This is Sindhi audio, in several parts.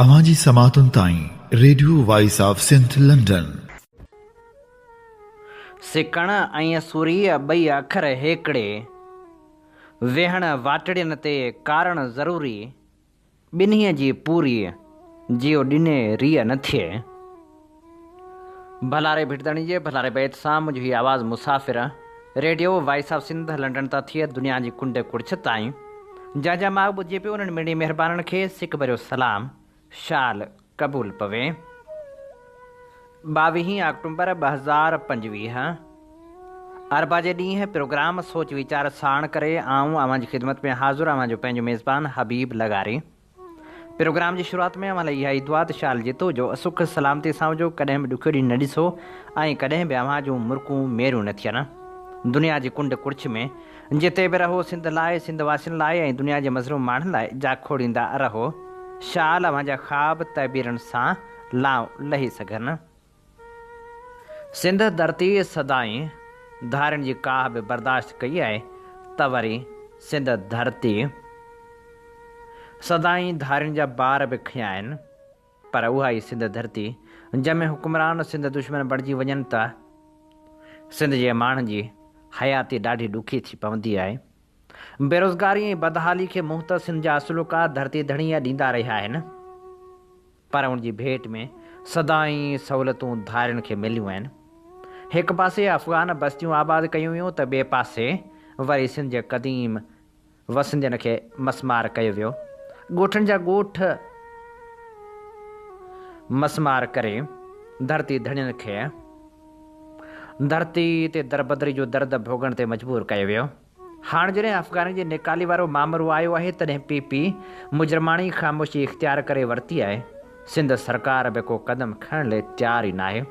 اوهان جي سماعتن تائين radio voice of Sindh London. سڪڻ ۽ سورهيه ٻئي اکر هيڪڙي. ويهڻ واٽڙين تي ڪارڻ ضروري. ٻنهي جي پوري جيو ڏني ريء نه ٿئي. ڀلاري ڀٽدڻي جي ڀلاري بيت سان منهنجو هي آواز مسافر radio voice of Sindh London تان ٿئي دنيا جي ڪنڊ ڪڙڇ تائين جنهن جا ماڳ ٻڌجي پيو انهن مڙني مهربانن کي سڪ ڀريو سلام شال قبول پوي ٻاويهين آڪٽومبر ٻه هزار پنجويهه اربع جي ڏينهن پروگرام سوچ ويچار ساڻ ڪري آئون اوهان جي خدمت ۾ حاضر اوهان جو پنهنجو ميزبان حبيب لغاري پروگرام جي شروعات ۾ اوهان لاء اها ئي دعا ته شال جيتو جو سک سلامتيء سان هجو، ڪڏهن به ڏکيو ڏينهن نه ڏسو ۽ ڪڏهن به اوهان جون مرڪون ميرون نه ٿين. دنيا جي ڪنڊ ڪڙڇ ۾ جتي به رهو سنڌ لاء، سنڌ واسين لاء ۽ دنيا جي مظلوم ماڻهن لاء جا کوڙيندا رهو. شال اوهان جا خواب تعبيرن سان لانء لهي سگهن. سنڌ ڌرتيء سدائين ڌارين جي ڪاهه به برداشت ڪئي آهي ته وري سنڌ ڌرتيء سدائين ڌارين جا بار به کنيا آهن پر اها ئي سنڌ ڌرتي جنهن ۾ حڪمران سنڌ دشمن بڻجي وڃن ته سنڌ جي ماڻهن جي حياتي ڏاڍي ڏکي ٿي پوندي آهي. بيروزگاري ۽ بدحالي کي منهن ته سنڌ جا اصلوڪا ڌرتي ڌڻيء ڏيندا رهيا آهن پر ان جي ڀيٽ ۾ سدائين سهولتون ڌارين کي مليون آهن. هڪ پاسي افغان بستيون آباد ڪيون ويون ته ٻئي پاسي وري سنڌ جي قديم وسندين کي مسمار ڪيو ويو. ڳوٺن جا ڳوٺ مسمار ڪري ڌرتي ڌڻين کي ڌرتي تي دربدري جو درد ڀوڳڻ تي مجبور ڪيو ويو. هاڻ جڏهن افغاني جي نيڪالي وارو مامرو آيو آهي تڏهن پي پي مجرماڻي خاموشي اختيار ڪري ورتي آهي، سنڌ سرڪار به ڪو قدم کڻڻ لئي تيار ئي ناهي.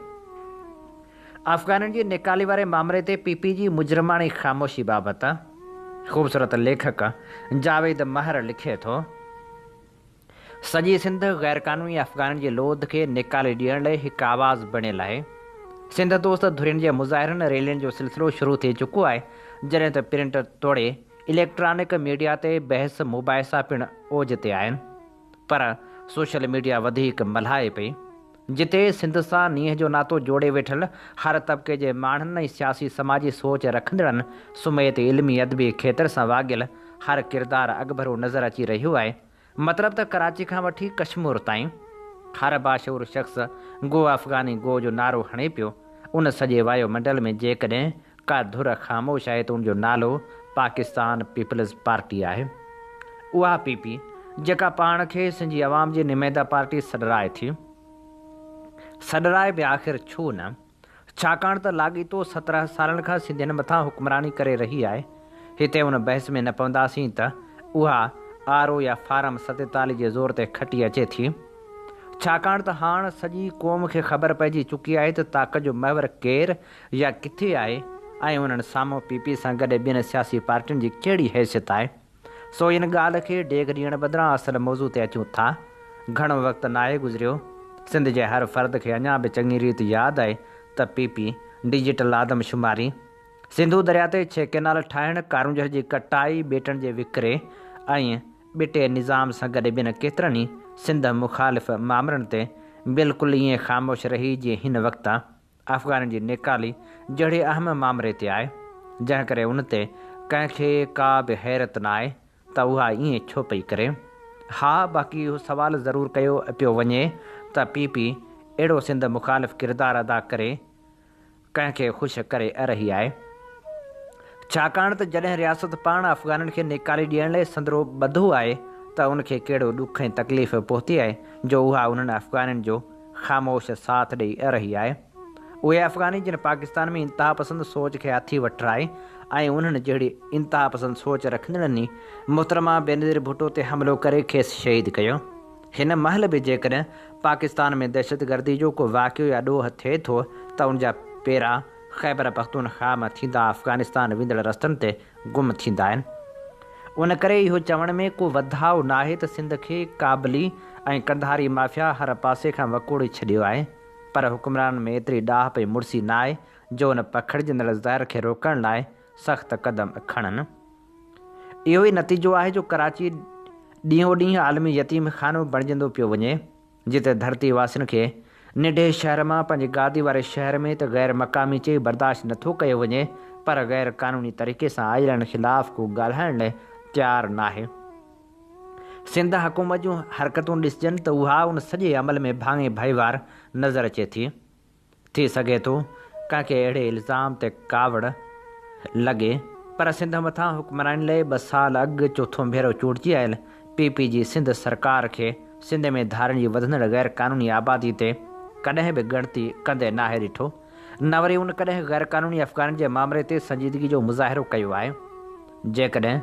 افغانين جي نيڪالي واري مامري تي پي پي جي مجرماڻي خاموشي بابت خوبصورت ليکڪ جاويد مهر لکي ٿو. سڄي سنڌ غيرقانوني افغانن جي لوڌ کي نيڪالي ڏيڻ لئي هڪ آواز بڻيل آهي. سنڌ دوست ڌرين جي مظاهرن ريلين جو سلسلو شروع ٿي چڪو آهي جڏهن ته پرنٽ توڙي اليڪٽرانڪ ميڊيا تي بحث مباحثا پڻ اوج تي آهن پر سوشل ميڊيا وڌيڪ ملهائي پئي جتي سنڌ سان نينهن جو ناتو جوڙي ويٺل هر طبقي جي ماڻهن ۽ سياسي سماجي سوچ رکندڙن سميت علمي ادبي کيتر سان واڳيل هر ڪردار اڳڀرو نظر اچي رهيو آهي. مطلب ته ڪراچي کان وٺي ڪشمور تائين هر باشعور شخص گو افغاني گو جو نعرو هڻي پيو، ان سڄي وايو منڊل ۾ جيڪڏهن ڪا ڌر خاموش آهي ته ان جو نالو پاڪستان پيپلز پارٽي آهي. اها پي پي جيڪا پاڻ کي سنڌي عوام جي نمائنده پارٽي سڏرائي ٿي. سڏرائي به آخر ڇو نه؟ ڇاڪاڻ ته لاڳيتو سترهن سالن کان سنڌين مٿان حڪمراني ڪري رهي آهي. هتي ان بحث ۾ نه پونداسين ته اها آر او يا فارم ستيتاليهه جي زور تي کٽي اچي ٿي. ڇاڪاڻ ته هاڻ سڄي قوم کي خبر پئجي چڪي آهي ته طاقت جو محور ڪير يا ڪٿي آهي ۽ انهن سامهون پي پي سان گڏ ٻين سياسي پارٽين جي ڪهڙي حيثيت آهي. سو ان ڳالهه کي ڊيگهه ڏيڻ بدران اصل موضوع تي اچون ٿا. گهڻو وقت ناهي گذريو، سنڌ جي هر فرد کي اڃا به چڱي ريت ياد آهي ته پي پي، ڊجيٽل آدم شماري، سنڌو درياء تي ڇهه ڪئنال ٺاهڻ، ڪارونجهر جي ڪٽائي، ٻيٽن جي وڪري ۽ ٻٽي نظام سان گڏ ٻين ڪيترن ئي سنڌ مخالف مامرن تي بلڪل ائين خاموش رهي جيئن هن وقت افغانن جي نيڪالي جهڙي اهم مامري تي آهي، جنهن ڪري ان تي ڪنهن کي ڪا به حيرت نه آهي ته اها ائين ڇو پئي ڪري. ها باقي اهو سوال ضرور ڪيو پيو وڃي ته پي پي اهڙو سنڌ مخالف ڪردار ادا ڪري ڪنهن کي خوش ڪري رهي آهي؟ ڇاڪاڻ ته جڏهن رياست پاڻ افغانن کي نيڪالي ڏيڻ لاء سندرو ٻڌو آهي ته ان کي ڪهڙو ڏک ۽ تڪليف پهتي آهي جو اها انهن افغانن جو خاموش ساٿ ڏئي رهي آهي. اهي افغاني جن پاڪستان ۾ انتهاپسند سوچ کي هٿي وٺرائي ۽ انهن جهڙي انتهاپسند سوچ رکندڙن ئي محترمه بينظير ڀٽو تي حملو ڪري کيس شهيد ڪيو. هن مهل به جيڪڏهن پاڪستان ۾ دهشتگردي جو ڪو واقعو يا ڏوهه ٿئي ٿو ته ان جا پيرا خيبرپختونخواهه مان ٿيندا افغانستان ويندڙ رستن تي گم ٿيندا آهن. ان ڪري اهو چوڻ ۾ ڪو وڌاء ناهي ته سنڌ کي ڪابلي ۽ قنڌاري مافيا هر پاسي کان وڪوڙي ڇڏيو آهي. پر حڪمرانن ۾ ايتري ڏاهپ ۽ مڙسي ناهي جو ان پکڙجندڙ زهر کي روڪڻ لاء سخت قدم کڻن. اهو ئي نتيجو آهي جو ڪراچي ڏينهون ڏينهن عالمي يتيم خانو بڻجندو پيو وڃي. جتي ڌرتي واسين کي ننڍي شهر مان پنهنجي گادي واري شهر ۾ ته غير مقامي چئي برداشت نه ٿو ڪيو وڃي پر غير قانوني طريقي سان آيلن خلاف ڪو ڳالهائڻ لاء تيار ناهي. سنڌ حڪومت جون حرڪتون ڏسجن ته اها ان سڄي عمل ۾ ڀاڱي ڀائيوار نظر اچي ٿي. ٿي سگهي ٿو ڪنهن کي اهڙي الزام تي ڪاوڙ لڳي پر سنڌ مٿان حڪمراني لئي ٻه سال اڳ چوٿون ڀيرو چونڊجي آيل پي پي جي سنڌ سرڪار کي سنڌ ۾ ڌارين جي وڌندڙ غير قانوني آبادي تي ڪڏهن به ڳڻتي ڪندي ناهي ڏٺو نه وري ان ڪڏهن غير قانوني افغانين جي مامري تي سنجيدگي جو مظاهرو ڪيو آهي جيڪڏهن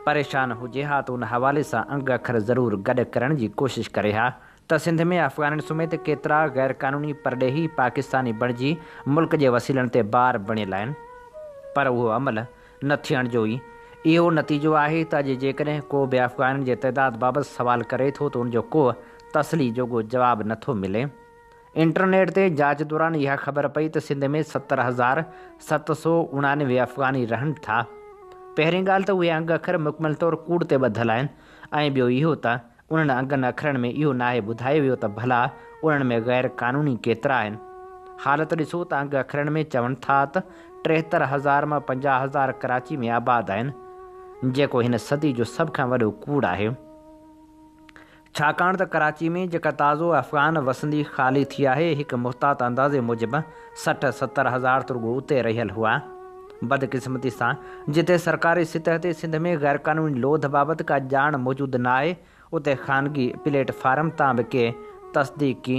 پريشان هجي ها ته ان حوالي سان انگ اکر ضرور گڏ ڪرڻ جي ڪوشش ڪري ها ته سنڌ ۾ افغانن سميت ڪيترا غيرقانوني پرڏيهي پاڪستاني بڻجي ملڪ جي وسيلن تي بار بڻيل آهن پر اهو عمل نه ٿيڻ جو ئي اهو نتيجو آهي ته اڄ جيڪڏهن ڪو به افغانن جي تعداد بابت سوال ڪري ٿو ته ان جو ڪو تسلي جوڳو جواب نه ٿو ملي. انٽرنيٽ تي جاچ دوران اها خبر پئي ته سنڌ ۾ ستر هزار ست سؤ اڻانوي افغاني رهن ٿا. پهرين ڳالهه ته اهي انگ اکر مڪمل طور ڪوڙ تي ٻڌل آهن ۽ ٻيو اهو ته انهن انگن اکرن ۾ اهو ناهي ٻڌايو ويو ته ڀلا انهن ۾ غير قانوني ڪيترا آهن؟ حالت ڏسو ته انگ اکرن ۾ چون ٿا ته ٽيهتر هزار مان پنجاهه هزار ڪراچي ۾ آباد آهن، جيڪو هن صدي جو سڀ کان وڏو ڪوڙ آهي. ڇاڪاڻ ته ڪراچي ۾ جيڪا تازو افغان وسندي خالي ٿي آهي، هڪ محتاط اندازي موجب، سٺ ستر هزار ته رڳو اتي رهيل هئا. بدقسمتي سان جتي سرڪاري سطح تي سنڌ ۾ غيرقانوني لوڌ بابت ڪا ڄاڻ موجود نه آهي اتي خانگي پليٽ فارم تان به ڪي تصديقي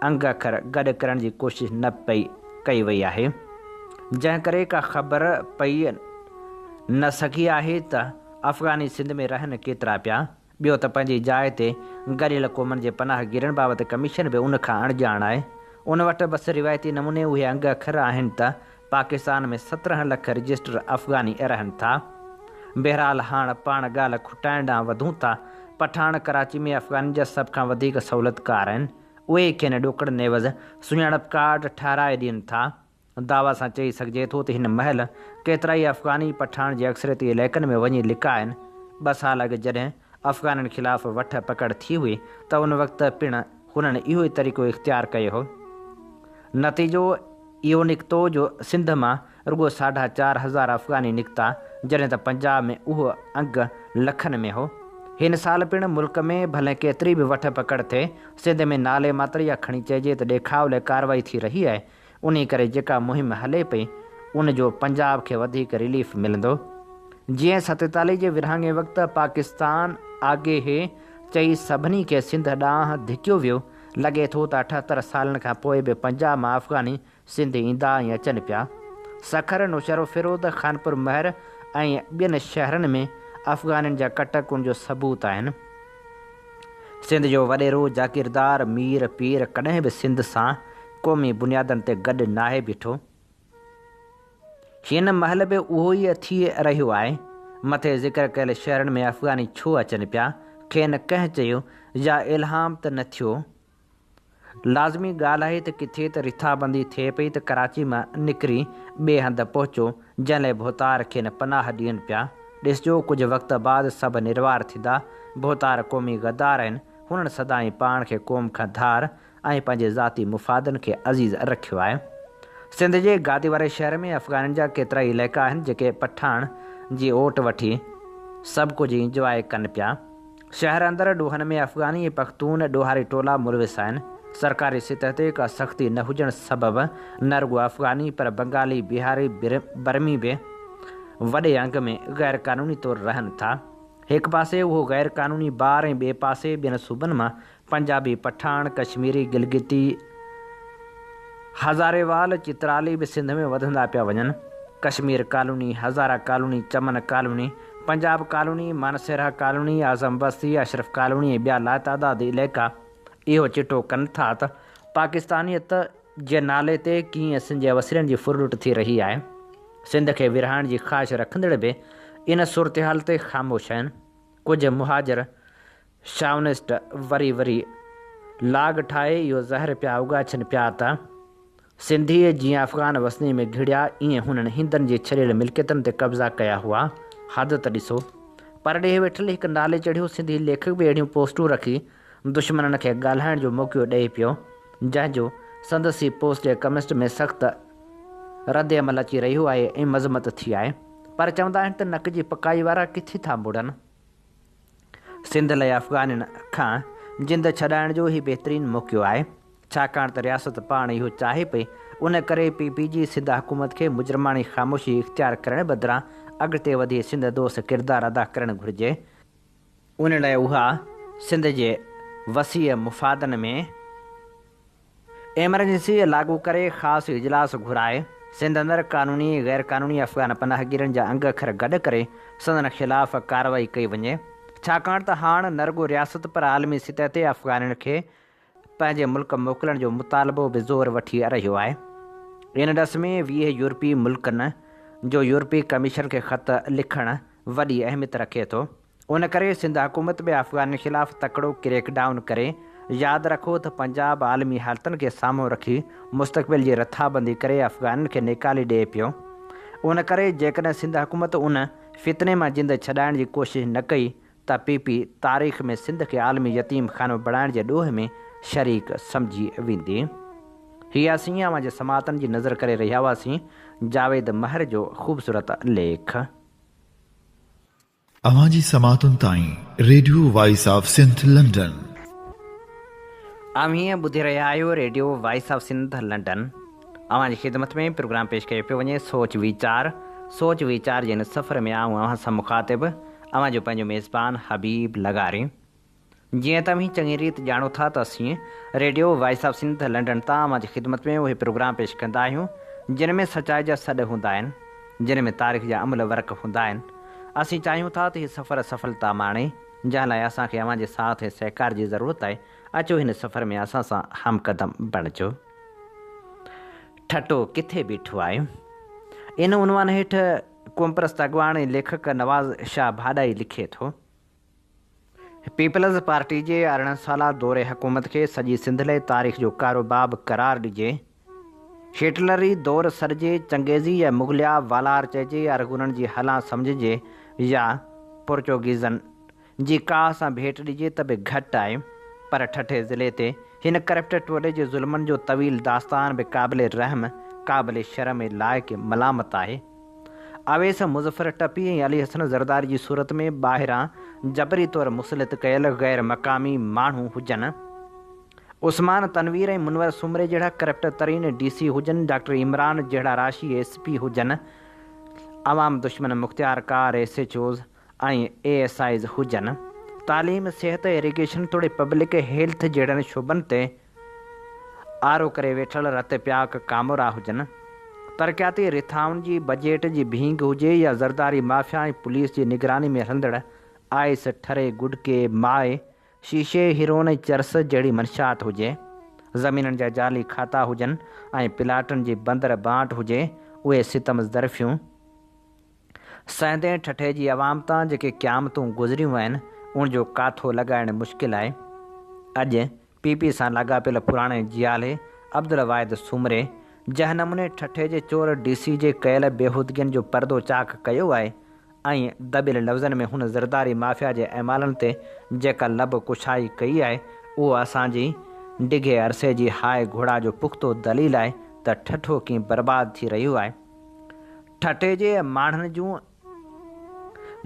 انگ اکر گڏ ڪرڻ جي ڪوشش نه پئي ڪئي وئي آهي جنهن ڪري ڪا خبر پئي نه سگهي آهي ته افغاني سنڌ ۾ رهن ڪيترا پيا ٻيو ته پنهنجي جاء تي ڳڙيل قومن جي پناهه گيرن بابت ڪميشن به ان کان اڻڄاڻ آهي. ان وٽ بس روايتي نموني اهي انگ اکر آهن ته پاڪستان ۾ سترهن لک رجسٽر افغاني رهن ٿا. بهرحال هاڻ پاڻ ڳالهه کٽائڻ ڏانهن وڌون ٿا. پٺاڻ ڪراچي ۾ افغانين جا سڀ کان وڌيڪ سهولتڪار آهن. اهي ئي کين ڏوڪڙ نيوز سڃاڻپ ڪارڊ ٺهرائي ڏين ٿا. دعويٰ سان چئي سگهجي ٿو ته هن مهل ڪيترائي افغاني پٺاڻ جي اڪثريتي علائقن ۾ وڃي لڪا آهن. ٻه سال اڳ جڏهن افغانن خلاف وٺ پڪڙ ٿي هئي ته ان وقت پڻ هنن اهو ئي طريقو اختيار ڪيو هو. نتيجو اهو نڪتو جو سنڌ مان رڳو ساڍا چار هزار افغاني نڪتا جڏهن ته پنجاب ۾ اهو انگ لکن ۾ هو. هن سال پڻ ملڪ ۾ ڀلي ڪيتري به وٺ پڪڙ ٿئي، سنڌ ۾ نالي ماتر يا کڻي چئجي ته ڏيکاء لاء ڪارروائي ٿي رهي آهي انهي ڪري جيڪا مهم هلي پئي ان جو پنجاب کي وڌيڪ رليف ملندو. جيئن ستيتاليهه جي ورهاڱي وقت پاڪستان آگهي هي چئي سڀني کي سنڌ ڏانهن ڌڪيو ويو، لڳي ٿو ته اٺهتر سالن کان پوء به پنجاب مان افغاني سنڌ ايندا ۽ اچن پيا. سکر، نوشهروفيروز، خانپور مهر ۽ ٻين شهرن ۾ افغانين جا ڪٽ ڪن جو ثبوت آهن. سنڌ جو وڏيرو جاگيردار مير پير ڪڏهن به سنڌ سان قومي بنيادن تي گڏ ناهي بيٺو. هن مهل به اهو ئي ٿي رهيو آهي. مٿي ذڪر ڪيل شهرن ۾ افغاني ڇو اچن پيا؟ کين ڪنهن چيو يا الهام ته نه ٿيو؟ لازمي ڳالهه آهي ته ڪٿي ته رٿابندي ٿئي پئي ته ڪراچي مان نڪري ٻئي هنڌ پهچو، جنهن لاء ڀوتار کين پناهه ڏين پيا. ڏسجو ڪجهه وقت بعد سڀ نروار ٿيندا. ڀوتار قومي غدار آهن. هنن سدائين پاڻ کي قوم کان ڌار ۽ پنهنجي ذاتي مفادن کي عزيز رکيو آهي. سنڌ جي گادي واري شهر ۾ افغانين جا ڪيترائي علائقا آهن، جيڪي پٺاڻ جي اوٽ وٺي سڀ ڪجهه انجواء ڪن پيا. شهر اندر ڏوهن ۾ افغاني ۽ پختون ڏوهاري ٽولا ملوث آهن، سرڪاري سطح تي ڪا سختي نه هجڻ سبب نه رڳو افغاني پر بنگالي، بهاري، برمي به وڏي انگ ۾ غير قانوني طور رهن ٿا، هڪ پاسي اهو غير قانوني بار ۽ ٻئي پاسي ٻين صوبن مان پنجابي، پٺاڻ، ڪشميري، گلگتي، هزاري وال، چترالي به سنڌ ۾ وڌندا پيا وڃن. Kashmir colony, Hazara colony, Chaman colony, Punjab colony, Mansehra colony, Azam بستي، اشرف ڪالوني ۽ ٻيا لاتعداد عليقا اهو چٽو ڪن ٿا ته پاڪستانيت جي نالي تي ڪيئن سنڌ جي وسيلن جي ڦر لٽ ٿي رهي آهي. سنڌ کي ورهائڻ جي خواهش رکندڙ به ان صورتحال تي خاموش آهن. ڪجهه مهاجر شاونسٽ وري وري لاڳ ٺاهي اهو زهر پيا اوڳاڇن پيا ته، سنڌيء جيئن افغان وسنيء ۾ گهڙيا، ايئن هنن هندن جي ڇڏيل ملڪيتن تي قبضا ڪيا هئا. حد ته ڏسو! پرڏيهه ويٺل هڪ نالي چڙهيو سنڌي ليکڪ به اهڙيون پوسٽون رکي دشمنن کي ڳالهائڻ جو موقعو ڏئي پيو، جنهن جو سندس ئي پوسٽ يا ڪمسٽ ۾ سخت ردعمل اچي رهيو آهي ۽ مذمت ٿي آهي. پر چوندا آهن ته نڪ جي پڪائي وارا ڪٿي ٿا مڙن. سنڌ لاء افغانين کان جند ڇڏائڻ جو هي بهترين موقعو آهي، ڇاڪاڻ ته رياست پاڻ اهو چاهي پئي، ان ڪري پي پي جي سنڌ حڪومت کي مجرماڻي خاموشي اختيار ڪرڻ بدران اڳتي وڌي سنڌ دوست ڪردار ادا ڪرڻ گهرجي، ان لاء اها سنڌ جي وسيع مفادن ۾ ايمرجنسي لاڳو ڪري خاص اجلاس گهرائي سنڌ اندر قانوني غير قانوني افغان پناهگيرن جا انگ اکر گڏ ڪري سندن خلاف ڪارروائي ڪئي وڃي ڇاڪاڻ ته هاڻ نه رڳو رياست پر عالمي سطح تي افغانين کي پنهنجي ملڪ موڪلڻ جو مطالبو به زور وٺي رهيو آهي ان ڏس ۾ ويهه يورپي ملڪن جو يورپي ڪميشن کي خط لکڻ وڏي اهميت رکي ٿو. ان ڪري سنڌ حڪومت به افغانن خلاف تڪڙو ڪريڪ ڊائون ڪري. ياد رکو ته پنجاب عالمي حالتن کي سامهون رکي مستقبل جي رٿابندي ڪري افغانن کي نيڪالي ڏئي پيو. ان ڪري جيڪڏهن سنڌ حڪومت ان فتني مان جند ڇڏائڻ جي ڪوشش نه ڪئي ته پي پي تاريخ ۾ سنڌ کي عالمي يتيم خانو بڻائڻ جي ڏوهه ۾ شريڪ سمجهي ويندي. هي اسين اوهان جي سماعتن جي نذر ڪري رهيا هئاسين. جاويد مهر جو خوبصورت ليک. اوهان جي سماعتن تائين radio voice of Sindh London. اوهين ٻڌي رهيا آهيو radio voice of Sindh London اوهان جي خدمت ۾ پروگرام پيش ڪيو پيو وڃي سوچ ويچار سوچ ويچار جي ان سفر ۾ آئون اوهان سان مخاطب اوهان جو پنهنجو ميزبان حبيب لغاري. جيئن توهين چڱي ريت ڄاڻو ٿا ته اسين radio voice of Sindh London تان اوهان جي خدمت ۾ اهي پروگرام پيش ڪندا آهيون جن ۾ سچائي جا سڏ هوندا آهن جن ۾ تاريخ جا املهه ورق هوندا آهن اسين چاهيون ٿا ته هي سفر سڦلتا ماڻي جنهن لاء اسان کي اوهان جي ساٿ ۽ سهڪار جي ضرورت آهي اچو هن سفر ۾ اسان سان هم قدم بڻجو ٺٽو ڪٿي بيٺو آهي ان عنوان هيٺ قومپرست اڳواڻ ۽ ليکڪ نواز شاهه ڀاڏائي لکي ٿو. پيپلز پارٽي جي ارڙهن سالا دور حڪومت کي سڄي سنڌ لئي تاريخ جو ڪارو باب قرار ڏجي، شيٽلري دور سڏجي، چنگيزي يا مغليا والار چئجي، ارغونن جي هلان سمجهجي يا پورچوگيزن جي ڪاهه سان ڀيٽ ڏجي ته به گهٽ آهي، پر ٺٽي ضلعي تي هن ڪرپٽ ٽولي جي ظلمن جو طويل داستان به قابل رحم، قابل شرم ۽ لائق ملامت آهي. اويس مظفر ٽپي ۽ علي حسن زرداري جي صورت ۾ ٻاهران جبري طور مسلط ڪيل غير مقامي ماڻهو هجن، عثمان تنوير ۽ منور سومري جهڙا ڪرپٽ ترين ڊي سي هجن، ڊاڪٽر عمران جهڙا راشي ايس پي هجن، عوام دشمن مختيار ڪار S H Os ۽ A S Is هجن، تعليم، صحت، ايريگيشن توڙي پبلڪ هيلٿ جهڙن شعبن تي آرو ڪري ويٺل رت پياڪ ڪامورا هجن، ترقياتي رٿائن جي بجيٽ جي ڀينگ هجي يا زرداري مافيا ۽ پوليس جي نگراني ۾ هلندڙ آئس، ٺري، گڏڪي، مائي، شيشي، هيروئن ۽ چرس جهڙي منشيات هجي، زمينن جا جعلي کاتا هجن ۽ پلاٽن جي بندر بانٽ هجي، اهي ستم ظرفيون، سهندين ٺٽي جي عوام تان جيڪي قيامتون گذريون آهن ان جو ڪاٿو لڳائڻ مشڪل آهي. اڄ پي پي سان لاڳاپيل پراڻي جيالي عبدالواحد سومري جنهن نموني ٺٽي جي چور ڊي سي جي ڪيل بيهودگين جو پردو چاڪ ڪيو آهي ۽ دٻيل لفظن ۾ هن زرداري مافيا جي اعمالن تي جيڪا لب ڪشائي ڪئي آهي اهو اسان جي ڊگهي عرصي جي هاء گهوڙا جو پختو دليل آهي ته ٺٽو ڪيئن برباد ٿي رهيو آهي. ٺٽي جي ماڻهن جون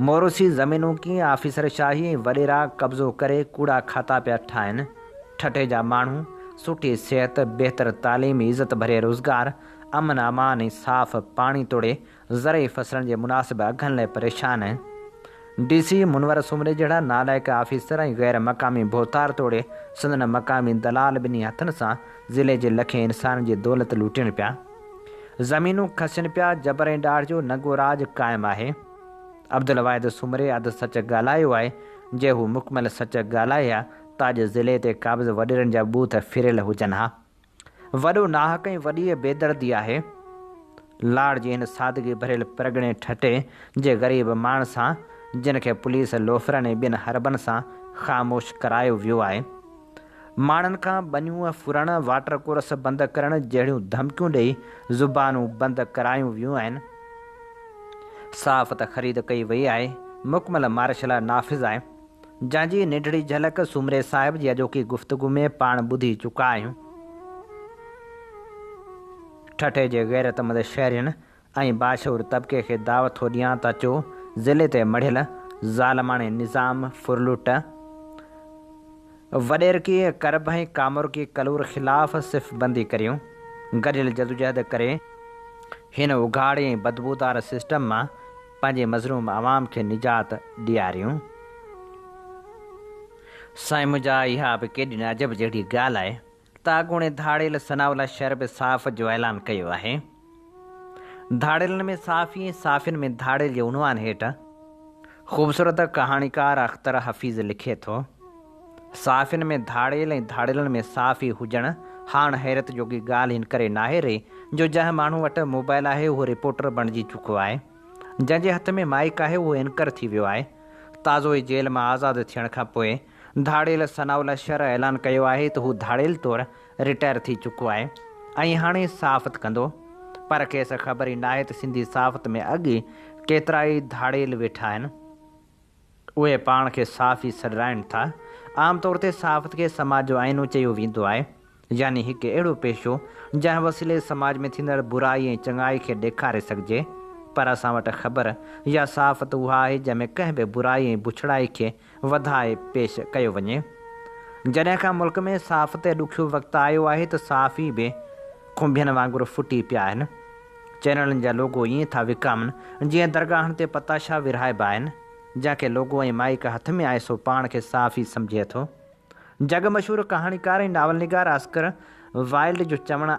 موروثي زمينون ڪيئن آفيسرشاهي ۽ وڏيرا قبضو ڪري ڪوڙا کاتا پيا ٺاهن، ٺٽي جا ماڻهو سٺي صحت، بهتر تعليم، عزت ڀرئي روزگار، امن امان ۽ صاف پاڻي توڙي زرعي فصلن جي مناسب اگهن لئه پريشان آهن، ڊي سي منور سومري جهڙا نالائق آفيسر ۽ غير مقامي ڀوتار توڙي سندن مقامي دلال ٻنهي هٿن سان ضلعي جي لکين انسانن جي دولت لوٽين پيا. زمينون کسين پيا جبر ۽ ڏاڍ جو ننگو راڄ قائم آهي. عبدالواحد سومري اڌ سچ ڳالهايو آهي، جي هو مڪمل سچ ڳالهائي ها ته اڄ ضلعي تي قابض وڏيرن جا ٻوٿ ڦريل هجن ها. وڏو ناحق ۽ وڏيء بيدردي آهي. لاڙ جي هن سادگي ڀريل پرڳڻي ٺٽي جي غريب ماڻ سان جن کي پوليس لوفرن ۽ ٻين حربن سان خاموش ڪرايو ويو آهي. ماڻهن کان ٻنيون ڦرڻ، واٽر ڪورس بند ڪرڻ جهڙيون ڌمڪيون ڏئي زبانون بند ڪرايون ويون آهن. صحافت خريد ڪئي وئي آهي، مڪمل مارشلا نافذ آهي، جنهن جي ننڍڙي جهلڪ سومري صاحب جي اڄوڪي گفتگو ۾ پاڻ ٻڌي چڪا آهيون. ٺٽي جي غيرتمند شهرين ۽ باشعور طبقي کي دعوت ٿو ڏيان ته اچو ضلعي تي مڙهيل ظالماڻي نظام ڦرلٽ، وڏيرڪي ڪرب ۽ ڪامورڪي ڪلور خلاف صف بندي ڪريون، گڏيل جدوجهد ڪري هن اگهاڙي ۽ بدبودار سسٽم مان پنهنجي مظلوم عوام کي نجات ڏياريون. سائين منهنجا اها به ڪيڏي نه عجب جهڙي ڳالهه آهي. تاڳوڻي ڌاڙيل ثناء الله شر به صاف جو اعلان ڪيو آهي. ڌاڙيلن ۾ صافي ۽ صافين ۾ ڌاڙيل جي عنوان هيٺ خوبصورت ڪهاڻيڪار اختر حفيظ لکي ٿو، صافين ۾ ڌاڙيل ۽ ڌاڙيلن ۾ صافي هجڻ هاڻ حيرت جوڳي ڳالهه ان ڪري ناهي رهي جو جنهن ماڻهو وٽ موبائل آهي اهو رپورٽر بڻجي چڪو آهي، جنهن جي هٿ ۾ مائيڪ آهي اهو اينڪر ٿي ويو آهي، تازو ئي جيل مان آزاد ٿيڻ کان پوء ڌاڙيل ثناء الله شر اعلان ڪيو آهي ته هو ڌاڙيل طور رٽائر ٿي چڪو آهي ۽ هاڻي صحافت ڪندو پر کيس خبر ئي ناهي ته سنڌي صحافت ۾ اڳ ئي ڪيترائي ڌاڙيل ويٺا آهن اهي پاڻ کي صحافي سڏرائين ٿا عام طور تي صحافت کي سماج جو آئينو چيو ويندو آهي يعني هڪ اهڙو پيشو جنهن وسيلي سماج ۾ ٿيندڙ برائي ۽ چڱائي کي ڏيکاري سگهجي پر اسان وٽ خبر يا صحافت اها آهي جنهن ۾ ڪنهن به برائي ۽ بڇڙائي کي وڌائي پيش ڪيو وڃي. جڏهن کان ملڪ ۾ صحافت تي ڏکيو وقت آيو آهي ته صحافي به کنڀين وانگر ڦٽي پيا آهن. چينلن جا لوگو ائين ٿا وڪامن جيئن درگاهن تي پتاشا ورهائبا آهن. جنهن کي لوگو ۽ مائيڪ هٿ ۾ آهي سو پاڻ کي صحافي سمجهي ٿو. جڳ مشهور ڪهاڻيڪار ۽ ناول نگار آسڪر وائلڊ جو چوڻ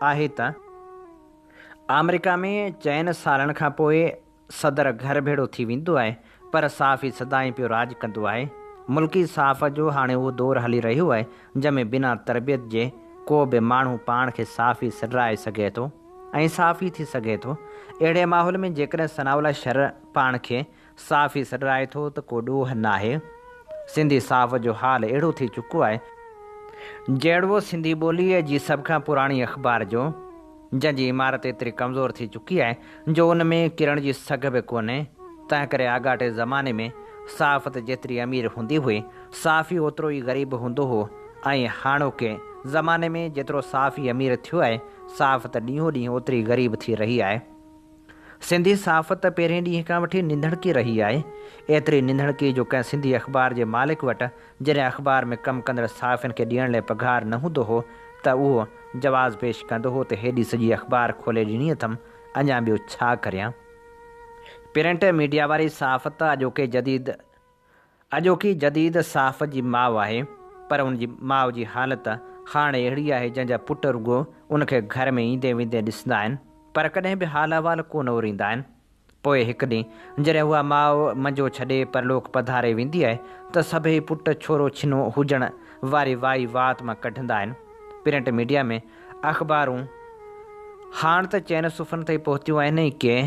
آهي ته آمريڪا ۾ چئن سالن کان پوء صدر گهر ڀيڙو ٿي ويندو آهي پر صحافي سدائين پيو راڄ ڪندو آهي. ملڪي صحافت جو هاڻي اهو دور هلي رهيو آهي جنهن ۾ بنا تربيت جي ڪو به ماڻهو پاڻ کي صحافي سڏرائي سگهي ٿو ۽ صحافي ٿي سگهي ٿو. اهڙي ماحول ۾ جيڪڏهن ثناء الله شر پاڻ کي صحافي سڏرائي ٿو ته ڪو ڏوهه ناهي، سنڌي صحافت جو حال اهڙو ٿي چڪو آهي، جهڙوو سنڌي ٻوليء جي سڀ کان پراڻي اخبار جو، جنهن جي عمارت ايتري ڪمزور ٿي چڪي آهي، جو ان ۾ ڪرڻ جي سگهه به ڪونهي، تنهنڪري آڳاٽي زماني ۾ صحافت جيتري امير هوندي هئي، صحافي اوترو ئي غريب به هوندو هو ۽ هاڻوڪي زماني ۾ جيترو صحافي امير ٿيو آهي، صحافت ڏينهون ڏينهن اوتري غريب ٿي رهي آهي. سنڌي صحافت ته پهرين ڏينهن کان وٺي ننڌڻڪي رهي آهي، ايتري ننڌڻڪي جو ڪنهن سنڌي اخبار جي مالڪ وٽ جڏهن اخبار ۾ ڪم ڪندڙ صحافين کي ڏيڻ لاء پگهار نه هوندو هو ته اهو جواز پيش ڪندو هو ته هيڏي سڄي اخبار کولي ڏني اٿم اڃا ٻيو ڇا ڪريان. پرنٽ ميڊيا واري صحافت اڄوڪي جديد اڄوڪي جديد صاف جي ماء آهي پر ان جي ماء جي حالت هاڻي اهڙي آهي جنهن جا پٽ رڳو ان کي گهر ۾ ايندي ويندي ڏسندا آهن پر ڪڏهن به حال احوال ڪو نه اوريندا آهن. پوء هڪ ڏينهن جڏهن اها ماء منجو ڇڏي پرلوڪ پڌاري ويندي آهي ته سڀئي پٽ ڇورو ڇنو هجڻ واري وائي وات مان ڪڍندا آهن. پرنٽ ميڊيا ۾ اخبارون هاڻ ته چئن صفحن تائين پهتيون آهن ۽ ڪي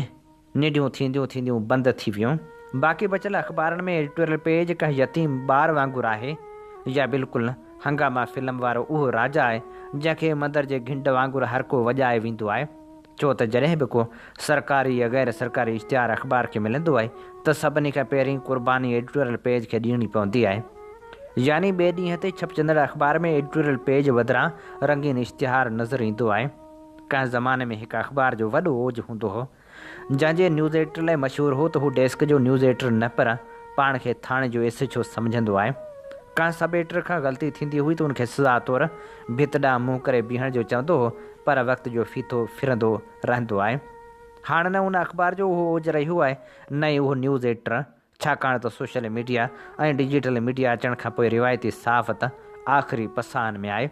ننڍيون ٿينديون ٿينديون بند ٿي ويون. باقي بچيل اخبارن ۾ ايڊيٽوريل پيج ڪنهن يتيم ٻار وانگر آهي يا بلڪل نه. هنگاما فلم وارو اهو راجا آهي جنهن کي مندر جي گهنڊ وانگر هر ڪو وڄائي ويندو آهي. ڇو ته جڏهن به ڪو سرڪاري يا غير سرڪاري اشتهار اخبار کي ملندو آهي ته سڀني کان پهرين قرباني ايڊيٽوريل پيج کي ڏيڻي پوندي آهي. يعني ٻئي ڏينهن تي ڇپجندڙ اخبار ۾ ايڊيٽوريل پيج بدران رنگين اشتهار نظر ايندو آهي. ڪنهن زماني ۾ هڪ اخبار جو وڏو اوج هوندو هو، جنهن جي نيوز ايڊيٽر لاء مشهور هو ته هو ڊيسڪ جو نيوز ايڊيٽر نه پر پاڻ کي ٿاڻي جو ايس ايڇ او سمجهندو آهي. ڪنهن سب ايڊيٽر کان غلطي ٿيندي هئي ته ان کي سزا طور ڀت ڏانهن منهن ڪري بيهڻ جو چوندو هو پر وقت جو ڦيٿو ڦرندو رهندو آهي. هاڻ نه ان اخبار جو اهو اوج رهيو آهي نه ئي اهو نيوز ايڊيٽر ڇاڪاڻ ته سوشل ميڊيا ۽ ڊجيٽل ميڊيا اچڻ کان پوء روايتي صحافت آخري پساهن ۾ آهي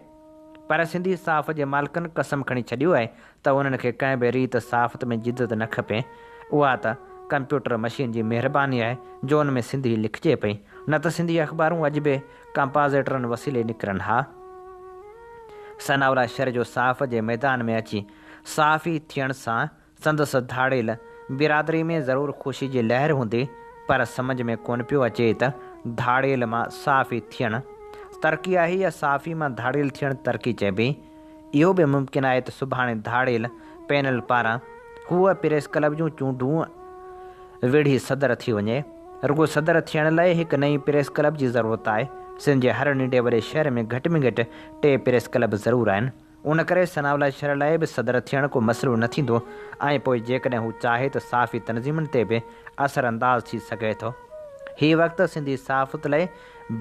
پر سنڌي صحافت جي مالڪن قسم کڻي ڇڏيو آهي ته انهن کي ڪنهن به ريت صحافت ۾ جدت نه کپي اها ته ڪمپيوٽر مشين جي مهرباني آهي جو ان ۾ سنڌي لکجي پئي نه ته سنڌي اخبارون اڄ به ڪمپازيٽرن وسيلي نڪرن ها ثناءالله شر جو صحافت جي ميدان ۾ اچي صحافي ٿيڻ سان سندس ڌاڙيل برادري ۾ ضرور خوشي جي لهر هوندي پر سمجهه ۾ ڪونه پيو اچي ته ڌاڙيل مان صحافي ٿيڻ ترقي آهي يا صحافي مان ڌاڙيل ٿيڻ ترقي چئبي؟ اهو به ممڪن آهي ته سڀاڻي ڌاڙيل پينل پاران هوء پريس ڪلب جون چونڊون وڙهي صدر ٿي وڃي. رڳو صدر ٿيڻ لاء هڪ نئين پريس ڪلب جي ضرورت آهي. سنڌ جي هر ننڍي وڏي شهر ۾ گهٽ ۾ گهٽ ٽي پريس ڪلب ضرور آهن. ان ڪري ثناء الله شرع لاء به صدر ٿيڻ ڪو مسئلو نه ٿيندو ۽ پوء جيڪڏهن هو چاهي ته صحافي تنظيمن تي به اثرانداز ٿي سگهي ٿو. هي وقت سنڌي صحافت لاء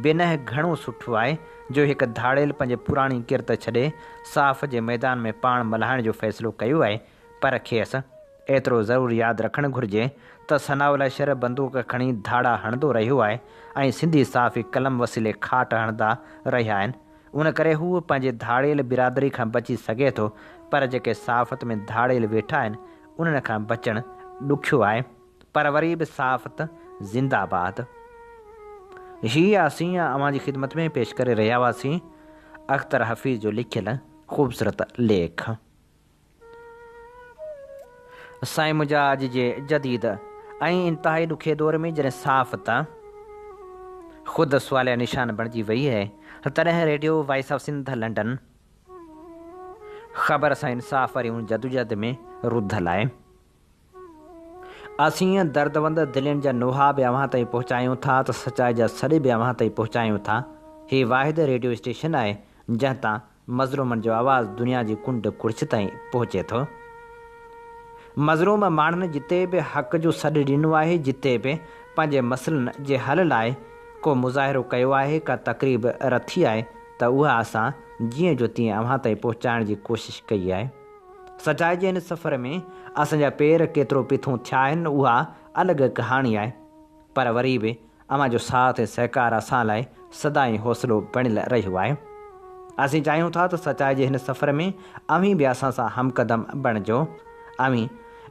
بنهه گهڻو سٺو آهي جو هڪ ڌاڙيل پنهنجي پراڻي ڪرت ڇڏي صحافت جي ميدان ۾ پاڻ ملهائڻ جو فيصلو ڪيو آهي پر کيس ايترو ضرور ياد رکڻ گهرجي ته ثناء الله شرع بندوق کڻي ڌاڙا هڻندو رهيو آهي ۽ سنڌي صحافي قلم وسيلي کاٽ هڻندا رهيا آهن ان ڪري هو پنهنجي ڌاڙيل برادري کان بچي سگهي ٿو پر جيڪي صحافت ۾ ڌاڙيل ويٺا آهن انهن کان بچڻ ڏکيو آهي پر وري به صحافت زنده باد هي اسين اوهان جي خدمت ۾ پيش ڪري رهيا هئاسين اختر حفيظ جو لکيل خوبصورت ليک. سائين منهنجا اڄ جي جديد ۽ انتهائي ڏکي دور ۾ جڏهن صاف ته خود سواليه نشان بڻجي وئي هي تڏهن radio voice of Sindh London خبر سان انصاف واري ان جدوجهد ۾ رڌل آهي. اسين دردمند دلين جا نوحا به اوهان تائين پهچايون ٿا ته سچائي جا سڏ به اوهان تائين پهچايون ٿا. هي واحد ريڊيو اسٽيشن آهي جنهن تان مظلومن جو آواز دنيا جي ڪنڊ ڪڙڇ تائين پهچي ٿو. مظلوم ماڻهن جتي به حق جو سڏ ڏنو آهي، جتي به پنهنجي مسئلن جي حل لاء ڪو مظاهرو ڪيو آهي، ڪا تقريب رٿي آهي ته اها اسان جيئن جو تيئن اوهان تائين پهچائڻ جي ڪوشش ڪئي آهي. سچائي جي هن سفر ۾ اسان جا پير ڪيترو پيٿون ٿيا آهن اها الڳ ڪهاڻي آهي پر وري به اوهان جو ساٿ ۽ سهڪار اسان لاء سدائين حوصلو بڻيل رهيو آهي. اسين چاهيون ٿا ته سچائي جي هن سفر ۾ اوهين به اسان سان همقدم بڻجو. اوهين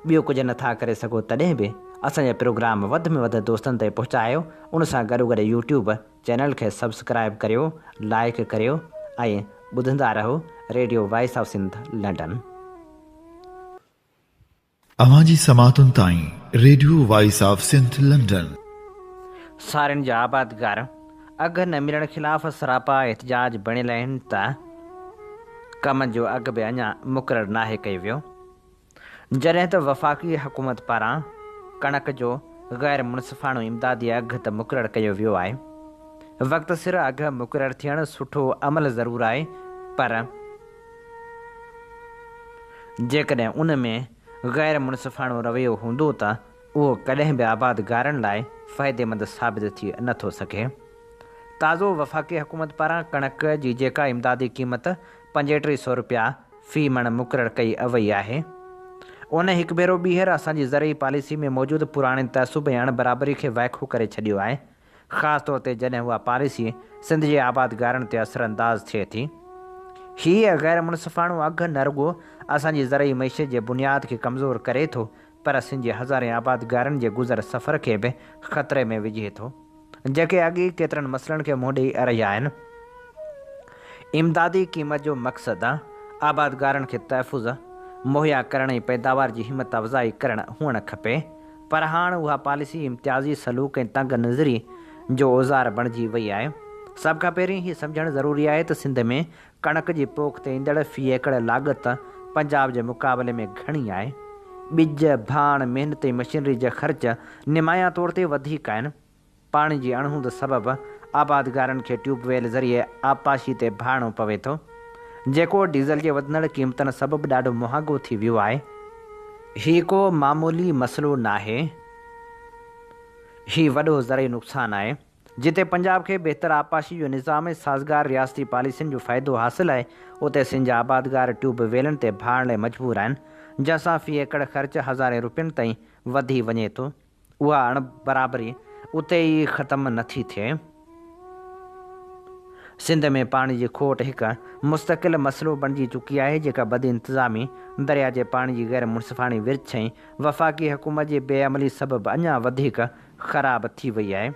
ٻيو ڪجهه نه ٿا ڪري سگهو تڏهن به اسان جا پروگرام وڌ ۾ وڌ دوستن تائين پهچايو ان سان گڏوگڏ يوٽيوب چينل کي سبسڪرائيب ڪريو لائيڪ ڪريو ۽ ٻڌندا رهو radio voice of Sindh London. اوهان جي سماعتن تائين radio voice of Sindh London. سارين جا آبادگار اگهه نه ملڻ خلاف سراپا احتجاج بڻيل آهن ته ڪم جو اگهه به اڃا مقرر ناهي ڪيو ويو جڏهن ته وفاقي حڪومت پاران ڪڻڪ جو غير منصفاڻو امدادي اگهه ته مقرر ڪيو ويو آهي، وقت سر اگهه مقرر ٿيڻ سٺو عمل ضرور آهي پر جيڪڏهن ان ۾ غير منصفاڻو رويو هوندو ته اهو ڪڏهن به آبادگارن لاء فائديمند ثابت ٿي نه ٿو سگهي. تازو وفاقي حڪومت پاران ڪڻڪ جي جيڪا امدادي قيمت پنجيٽري سئو رپيا في مڻ مقرر ڪئي اوئي آهي. ان هڪ ڀيرو ٻيهر اسان جي زرعي پاليسي ۾ موجود پراڻي تعصب ۽ اڻ برابري کي وائکو ڪري ڇڏيو آهي، خاص طور تي جڏهن اها پاليسي سنڌ جي آبادگارن تي اثر انداز ٿئي ٿي. هيء غيرمنصفاڻو اگهه نه رڳو اسان جي زرعي معيشت جي بنياد کي ڪمزور ڪري ٿو پر سنڌ جي هزارين آبادگارن جي گذر سفر کي به خطري ۾ وجهي ٿو، جيڪي اڳ ئي ڪيترن مسئلن کي منهن ڏيئي رهيا آهن. امدادي قيمت جو مقصد آبادگارن کي تحفظ مهيا ڪرڻ ۽ پيداوار جي همت افزائي ڪرڻ هئڻ کپي، پر هاڻ اها پاليسي امتيازي سلوڪ ۽ تنگ نظري جو اوزار بڻجي وئي آهي. سڀ کان پهرين هي سمجهڻ ضروري آهي ته سنڌ ۾ ڪڻڪ جي پوک تي ايندڙ في ايڪڙ لاڳت پنجاب جي مقابلي ۾ گهڻي آهي. ٻج، ڀاڻ، محنت ۽ مشينري جا خرچ نمايان طور تي وڌيڪ آهن. پاڻي جي اڻهوند سبب آبادگارن کي ٽيوب ويل ذريعي آبپاشي تي ڀاڙڻو پوي ٿو، جيڪو ڊيزل جي وڌندڙ قيمتن سبب ڏاڍو مهانگو ٿي ويو آهي. هي ڪو معمولي مسئلو ناهي، هي وڏو زرعي نقصان آهي. جتي پنجاب کي بهتر آبپاشي جو نظام ۽ سازگار رياستي پاليسين جو فائدو حاصل آهي، اتي سنڌ جا آبادگار ٽيوب ويلن تي ڀاڙڻ لاء مجبور آهن، جنهن سان في ايڪڙ خرچ هزارين روپين تائين وڌي وڃي ٿو. اها اڻ برابري اتي ئي ختم نٿي ٿئي. سنڌ ۾ پاڻي جي کوٽ هڪ مستقل مسئلو بڻجي چڪي آهي، جيڪا بدانتظامي، درياء جي پاڻي جي غيرمنصفاڻي ورڇ ۽ وفاقي حڪومت جي بي عملي سبب اڃا وڌيڪ خراب ٿي وئي آهي.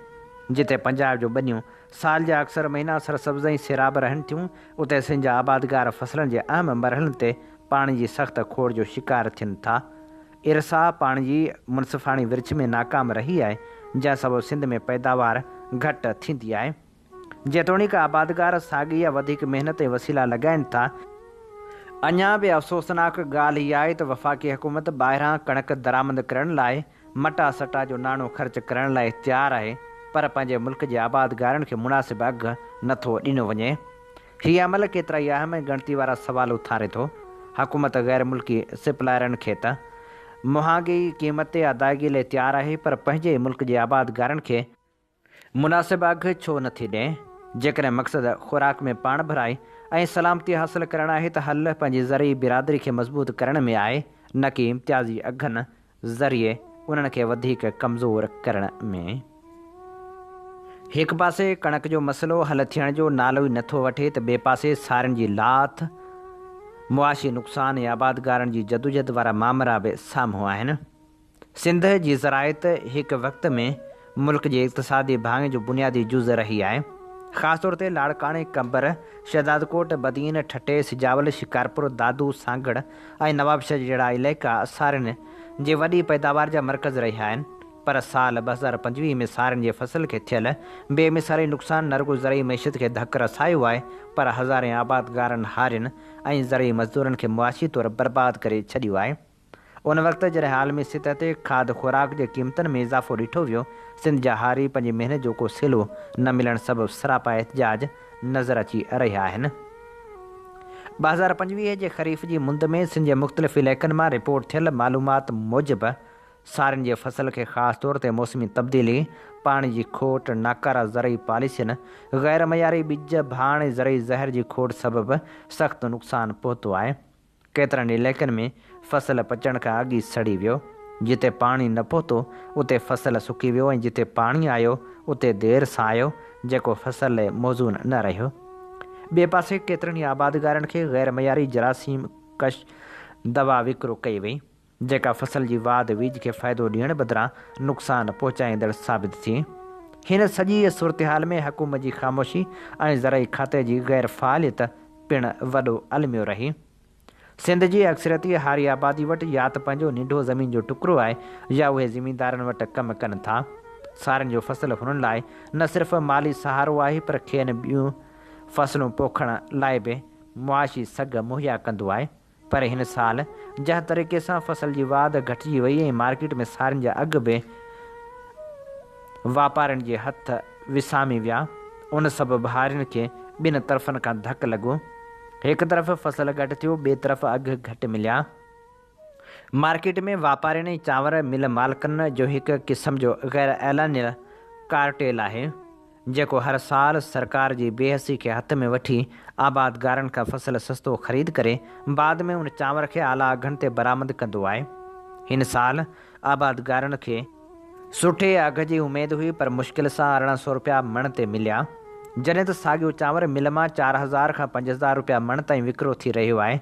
جتي پنجاب جون ٻنيون سال جا اڪثر مهينا سرسبز ۽ سيراب رهن ٿيون، اتي سنڌ جا آبادگار فصلن جي اهم مرحلن تي پاڻي جي سخت کوڙ جو شڪار ٿين ٿا. ارسا پاڻي جي منصفاڻي ورڇ ۾ ناڪام رهي آهي، جنهن سبب سنڌ ۾ پيداوار گهٽ ٿيندي آهي. جيتوڻيڪ آبادگار ساڳي يا وڌيڪ محنت ۽ وسيلا لڳائين ٿا، اڃا به افسوسناڪ ڳالهه اها آهي ته وفاقي حڪومت ٻاهران ڪڻڪ درآمد ڪرڻ لاء مٽا سٽا جو ناڻو خرچ ڪرڻ لاء تيار آهي پر پنهنجي ملڪ جي آبادگارن کي مناسب اگهه نه ٿو ڏنو وڃي. هي عمل ڪيترائي اهم ۽ ڳڻتي وارا سوال اٿاري ٿو. حڪومت غير ملڪي سپلائرن کي ته مهانگي قيمت تي ادائگي لاء تيار آهي پر پنهنجي ئي ملڪ جي آبادگارن کي مناسب اگھ ڇو نه ٿي ڏئين؟ جيڪڏهن مقصد خوراڪ ۾ پاڻ ڀرائي ۽ سلامتي حاصل ڪرڻ آهي ته حل پنهنجي زرعي برادري کي مضبوط ڪرڻ ۾ آهي نه ڪي امتيازي اگھن ذريعي انهن کي وڌيڪ ڪمزور ڪرڻ ۾. هڪ پاسي ڪڻڪ جو مسئلو حل ٿيڻ جو نالو ئي نه ٿو وٺي ته ٻئي پاسي سارين جي لاٿ، معاشي نقصان ۽ آبادگارن جي جدوجھد وارا مامرا به سامهون آهن. سنڌ جي زراعت هڪ وقت ۾ ملڪ جي اقتصادي ڀاڱي جو بنيادي جز رهي آهي. خاص طور تي لاڙڪاڻي، قمبر، شهدادڪوٽ، بدين، ٺٽي، سجاول، شڪارپور، دادو، سانگهڙ ۽ نوابشاهه جهڙا علائقا سارين جي وڏي پيداوار جا مرڪز رهيا آهن پر سال ٻه هزار پنجويهه ۾ سارين جي فصل کي ٿيل بي مثالي نقصان نه رڳو زرعي معيشت کي ڌڪ رسايو آهي پر هزارين آبادگارن، هارين ۽ زرعي مزدورن کي معاشي طور برباد ڪري ڇڏيو آهي. ان وقت جڏهن عالمي سطح تي کاڌ خوراڪ جي قيمتن ۾ اضافو ڏٺو ويو، سنڌ جا هاري پنهنجي محنت جو ڪو سلو نه ملڻ سبب سراپا احتجاج نظر اچي رهيا آهن. ٻه هزار پنجويهه جي خريف جي مند ۾ سنڌ جي مختلف علائقن مان رپورٽ ٿيل معلومات موجب سارين جي فصل کي خاص طور تي موسمي تبديلي، پاڻي جي کوٽ، ناڪارا زرعي پاليسين، غيرمعياري ٻج، ڀاڻ ۽ زرعي زهر جي کوٽ سبب سخت نقصان پهتو آهي. ڪيترن ئي علائقن ۾ فصل پچڻ کان اڳ ئي سڙي ويو، جتي پاڻي نه پهتو اتي فصل سڪي ويو ۽ جتي پاڻي آيو اتي دير سان آيو، جيڪو فصل لاء موزون نه رهيو. ٻئي پاسي ڪيترن ئي آبادگارن کي غيرمعياري جراثيم ڪش دوا وڪرو ڪئي وئي. جيڪا فصل جي واڌ ويجهه کي فائدو ڏيڻ بدران نقصان پهچائيندڙ ثابت ٿي. هن سڄيء صورتحال ۾ حڪومت جي خاموشي ۽ زرعي کاتي جي غير فعاليت پڻ وڏو الميو رهي. سنڌ جي اڪثريتي هاري آبادي وٽ يا ته پنهنجو ننڍو زمين جو ٽڪرو آهي يا اهي زميندارن وٽ ڪم ڪن ٿا. سارين جو فصل هنن لاء نه صرف مالي سهارو آهي پر کين ٻيون فصلون پوکڻ لاء به معاشي سگهه مهيا ڪندو آهي. پر هن سال جنهن طريقي سان فصل جي واڌ گهٽجي وئي ۽ مارڪيٽ ۾ سارين جا اگهه به واپارين جي هٿ وسامي ويا ان سبب هارين کي ٻن طرفن کان ڌڪ لڳو هڪ طرف فصل گهٽ ٿيو ٻئي طرف اگهه گهٽ مليا. مارڪيٽ ۾ واپارين ۽ چانور مل مالڪن جو هڪ قسم جو غيراعلانيه ڪارٽيل آهي. جيڪو هر سال سرڪار جي بيحسي کي هٿ ۾ وٺي آبادگارن کان فصل سستو خريد ڪري بعد ۾ ان چانور کي اعليٰ اگهن تي برآمد ڪندو آهي. هن سال آبادگارن کي. سٺي اگهه جي اميد هئي پر مشڪل سان ارڙهن سئو رپيا مڻ تي مليا جڏهن ته ساڳيو چانور مل مان چار هزار کان پنج هزار رپيا مڻ تائين وڪرو ٿي رهيو آهي.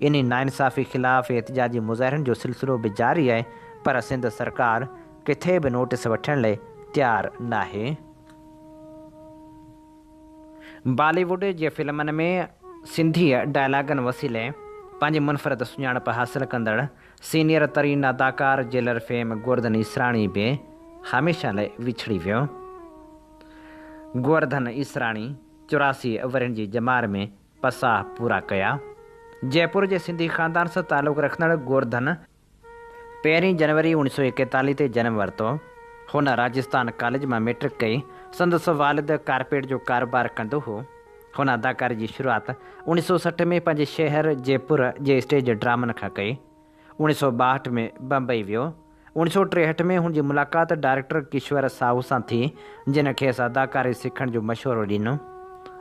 انهي ناانصافي خلاف احتجاجي مظاهرن جو سلسلو به جاري آهي پر سنڌ سرڪار ڪٿي به نوٽيس وٺڻ لئي تيار ناهي. بالي ووڊ جي فلمن ۾ سنڌيء ڊائلاگن وسيلي پنهنجي منفرد سڃاڻپ حاصل ڪندڙ سينيئر ترين اداڪار جيلر فيم گوورڌن ايسراڻي به هميشه لئي وڇڙي ويو. گوورڌن ايسراڻي چوراسي ورهين جي ڄمار ۾ پساهه پورا ڪيا. جئپور جي سنڌي خاندان سان تعلق رکندڙ گورڌن پهرين جنوري اوڻيهه سؤ ايڪيتاليهه تي جنم ورتو. هن راجستان ڪاليج مان مئٽرڪ ڪئي. سندس والد ڪارپيٽ جو ڪاروبار ڪندو هو. هن اداڪاري جي شروعات اوڻيهه سؤ سٺ ۾ پنهنجي شهر جئپور جي اسٽيج ڊرامن کان ڪئي. اوڻيهه سؤ ٻاهٺ ۾ بمبئي ويو اوڻ سؤ ٽيهٺ ۾ هن جي ملاقات ڊائريڪٽر ڪشور ساهو سان ٿي، جنھن کيس اداڪاري سکڻ جو مشورو ڏنو.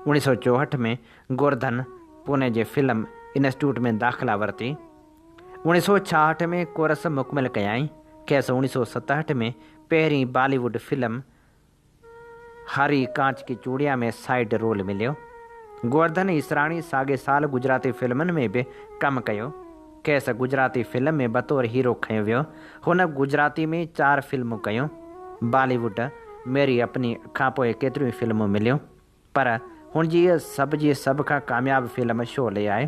اوڻ سؤ چوهٺ ۾ گورڌن پوني جي فلم انسٽيٽيوٽ ۾ داخلا ورتي. اوڻ سؤ ڇاهٺ ۾ ڪورس مڪمل ڪيائين. کيس اوڻ سؤ ستهٺ ۾ پهرين بالي ووڊ فلم هاري ڪانچ ڪي چوڙيا ۾ سائيڊ رول مليو. گوورڌن ايسراڻي ساڳئي سال گجراتي فلمن ۾ به ڪم ڪيو. کيس گجراتي فلم ۾ بطور هيرو کنيو ويو. هن گجراتي ۾ چار فلمون ڪيون. بالي ووڊ، ميري اپني کانپوء ڪيتريون ئي فلمون مليون. پر هن جي اها سڀ جي سڀ کان ڪامياب فلم شعلي آهي،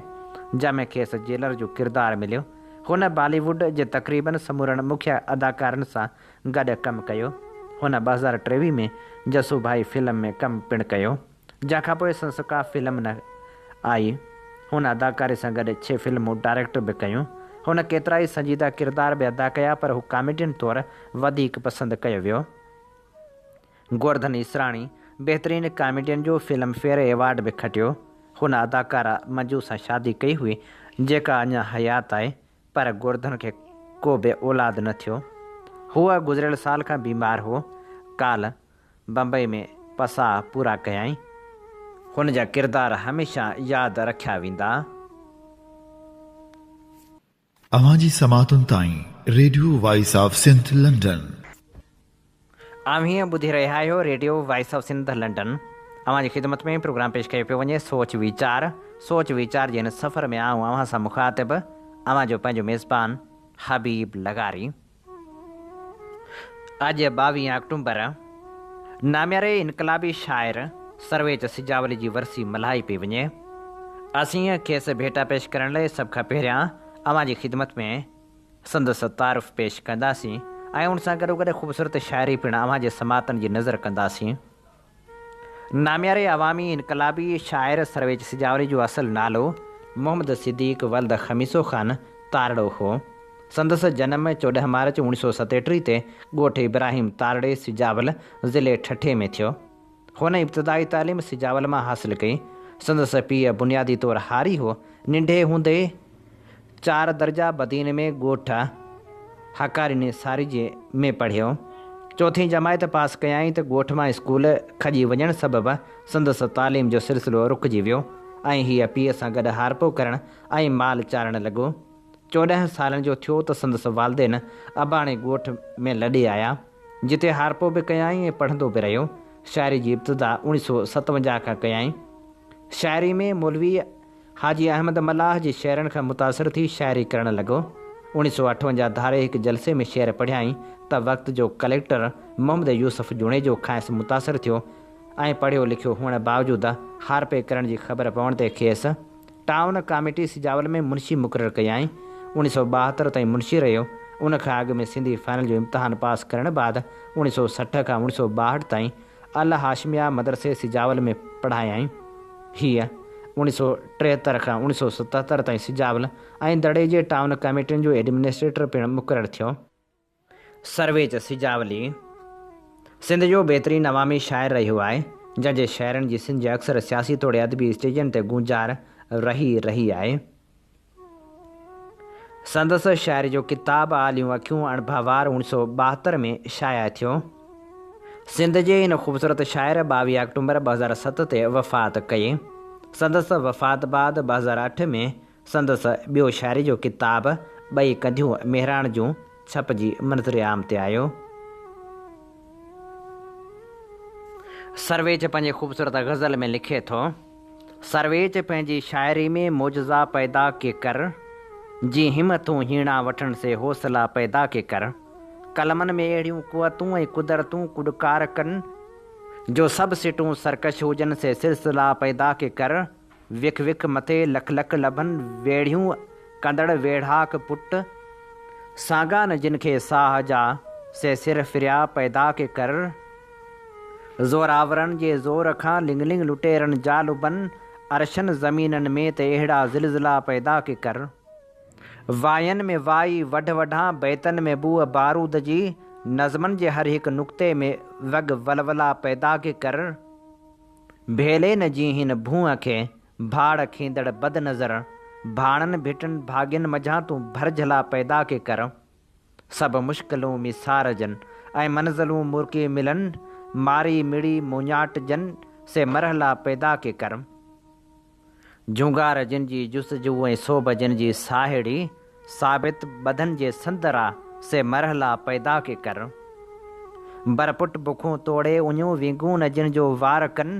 جنهن ۾ کيس جيلر جو ڪردار مليو. هن بالي ووڊ جي تقريبن سمورن مکيه اداڪارن سان گڏ ڪم ڪيو. هن ٻه هزار ٽيويهه ۾ جسو ڀائي فلم ۾ ڪم پڻ ڪيو، جنهن کان پوء سندس ڪا فلم نه آئي. هن اداڪاري سان گڏ ڇهه فلمون ڊائريڪٽ به ڪيون. هن ڪيترائي سنجيده ڪردار به ادا ڪيا پر هو ڪاميڊين طور وڌيڪ پسند ڪيو ويو. گوردن اسراڻي بهترين ڪاميڊين جو فلم فيئر ايوارڊ به کٽيو. هن اداڪارا منجو سان شادي ڪئي هئي جيڪا اڃا حيات آهي پر گوردن کي ڪو به اولاد نه ٿيو. هو گذريل سال کان بيمار هو. ڪالهه بمبئي ۾ پساء پورا ڪيائين. هن جا ڪردار هميشه ياد رکيا ويندا. اوهان جي سماعتن تائين radio voice of Sindh London. اوهين ٻڌي رهيا آهيو radio voice of Sindh London اوهان جي خدمت ۾ پروگرام پيش ڪيو پيو وڃي سوچ ويچار سوچ ويچار جي هن سفر ۾ آئون اوهان سان مخاطب اوهان جو پنهنجو ميزبان حبيب لغاري. اڄ ٻاويهه آڪٽومبر نامياري انقلابي شاعر سرويچ سجاولي جي ورسي ملهائي پئي وڃي. اسين کيس ڀيٽا پيش ڪرڻ لاء سڀ کان پهريان اوهان جي خدمت ۾ سندس تعارف پيش ڪنداسين ۽ ان سان گڏوگڏ خوبصورت شاعري پڻ اوهان جي سماعتن جي نذر ڪنداسين. نامياري عوامي انقلابي شاعر سرويچ سجاولي جو اصل نالو محمد صديق ولد خميسو خان تارڙو هو. سندس جنم چوڏهن مارچ اوڻ سؤ ستيٽيهه تي ڳوٺ ابراهيم تارڙي سجاول ضلعي ٺٽي ۾ ٿيو. هن ابتدائي تعليم سجاول مان حاصل ڪئي. سندس پيء بنيادي طور هاري هو. ننڍي هوندي ئي. چار درجا بدين ۾ ڳوٺ هاڪاري نثارجي ۾ پڙهيو. چوٿين جماعت پاس ڪيائين ته ڳوٺ مان اسڪول کڄي وڃڻ سبب سندس تعليم جو سلسلو رڪجي ويو ۽ هيء پيء سان گڏ هارپو ڪرڻ ۽ مال چارڻ لڳو. چوڏهن سالن جو ٿيو ته سندس والدين اباڻي ڳوٺ ۾ لڏي آيا، جتي هارپو به ڪيائين ۽ پڙهندو به رهيو. شاعري جي ابتدا اوڻيھ سؤ ستونجاھ کان ڪيائين. شاعري ۾ مولويء. حاجي احمد ملاح جي شعرن کان متاثر ٿي شاعري ڪرڻ لڳو. اوڻيھ سؤ اٺونجاھ ڌاري هڪ جلسي ۾ شعر پڙهيائين ته وقت جو ڪليڪٽر محمد يوسف جوڻيجو کانئس متاثر ٿيو ۽ پڙهيو لکيو هئڻ باوجود هارپي ڪرڻ جي خبر پوڻ تي کيس ٽائون ڪاميٽي سجاول ۾ منشي مقرر ڪيائين. اوڻيھ سؤ ٻاهتر تائين منشي رهيو. ان کان اڳ ۾ سنڌي فائنل جو امتحان پاس ڪرڻ بعد اوڻيھ سؤ سٺ کان اوڻيھ سؤ ٻاهٺ تائين اعليٰ هاشميه مدرسي سجاول ۾ پڙهايائين. هيء اڻيهه سؤ ٽيهتر کان اڻيهه سؤ ستهتر تائين سجاول ۽ دڙي جي ٽائون ڪميٽين جو ايڊمنسٽريٽر پڻ مقرر ٿيو. سرويچ سجاولي سنڌ جو بهترين عوامي شاعر رهيو آهي، جنهن جي شعرن جي سنج اڪثر سياسي توڙي ادبي اسٽيجن تي گونجار رهي رهي آهي. سندس شاعري جو ڪتاب آليون اکيون اڻ ڀوار اوڻ سؤ ٻاهتر ۾ شايع ٿيو. سنڌ جي هن خوبصورت شاعر ٻاويهه آڪٽومبر ٻه هزار ست تي وفات ڪئي. سندس وفات بعد ٻه هزار اٺ ۾ سندس ٻيو شاعري جو ڪتاب ٻئي ڪنڌيون مهراڻ جون ڇپجي منظر عام تي آيو. سرويچ پنهنجي خوبصورت غزل ۾ لکي ٿو. سرويچ پنهنجي شاعري ۾ معجزا پيدا ڪي ڪر، جي همٿون هيڻا وٺڻ سي حوصلا پيدا ڪي ڪر، قلمن ۾ اهڙيون قوتون ۽ قدرتون ڪڏڪار ڪن، جو سڀ سٽون سرڪش هجن سي سلسلا پيدا ڪي ڪر، وک وک مٿي لک لک لڀن ويڙهيون ڪندڙ ويڙهاڪ پٽ، سانگان جن کي ساهه جا سي سر ڦريا پيدا ڪي ڪر. زورآورن جي زور کان لڱ لڱ لٽيرن جا لبن عرشن زمينن ۾ ته اهڙا زلزلا پيدا ڪي ڪر واين ۾ وائي وڍ وڍان بيتن ۾ بوء بارود جي نظمن جي هر هڪ نقطي ۾ وڳ ولولا پيدا ڪي ڪر ڀيلي نه جي هن ڀونء کي ڀاڙ کيندڙ بد نظر ڀاڻن ڀٽن ڀاڳين مجهان تون ڀرجهلا پيدا ڪي ڪر. سڀ مشڪلون ميسار جن، ۽ منزلون مرڪي ملن، ماري مڙي مونياٽ جن، سي مرحلا پيدا ڪي ڪرم. جهونگار جن جي جستجو ۽ سوڀ جن جي ساهيڙي، ثابت ٻڌن جي سندر آ، سي مرحلا پيدا ڪي ڪرم. بر پٽ بکون توڙي اڃون وينگون نه جن جو وار ڪن،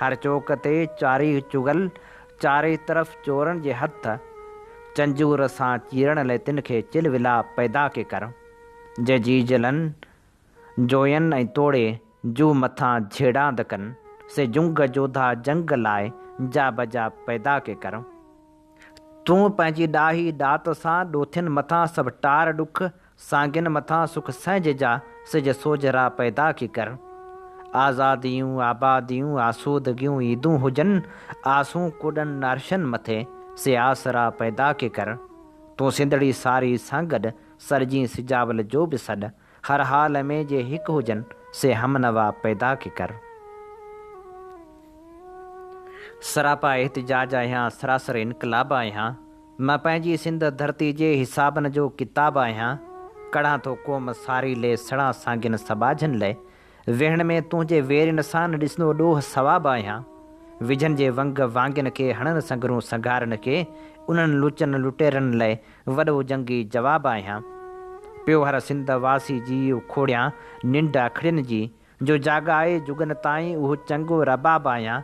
هر چوڪ تي چاري چغل، چاري طرف چورن جي هٿ، چنجور سان چيرڻ لئه تن کي چل ولا پيدا ڪي ڪر، جي جيجلن جوين ۽ توڙي جو مٿان جهيڙاند ڪن، سي جنگ جوڌا جنگ لائه جا بجا پيدا ڪي ڪر. تون پنهنجي ڏاهي ڏات سان ڏوٿين مٿان سڀ ٽار ڏک سانگين مٿان سک سهج جا، سج سوج را پيدا ڪي ڪر. آزاديون، آباديون، آسودگيون، عيدون هجن، آسون ڪوڏن نارشن مٿي، سي آس را پيدا ڪي ڪر. تون سنڌڙي ساري سان گڏ، سرجين سجاول جو به سڏ، هر حال ۾ جي هڪ هجن، سي همنوا پيدا ڪي ڪر. سراپا احتجاج آهيان، سراسر انقلاب آهيان، مان پنهنجي سنڌ ڌرتي جي حسابن جو ڪتاب آهيان ڪڙهان ٿو قوم ساري لئي سڙان سانگين سٻاجهن لئي ويهڻ ۾ تنهنجي ويرين سان ڏسندو ڏوهه ثواب آهيان وجهن جي ونگ وانگين کي هڻن سنگرون سنگهارن کي انهن لچن لٽيرن لئي وڏو جنگي جواب آهيان پيو هر سنڌ واسي جي اکوڙيان ننڊ اکڙين جي جو جاڳائي جڳن تائين اهو چڱو رباب آيان.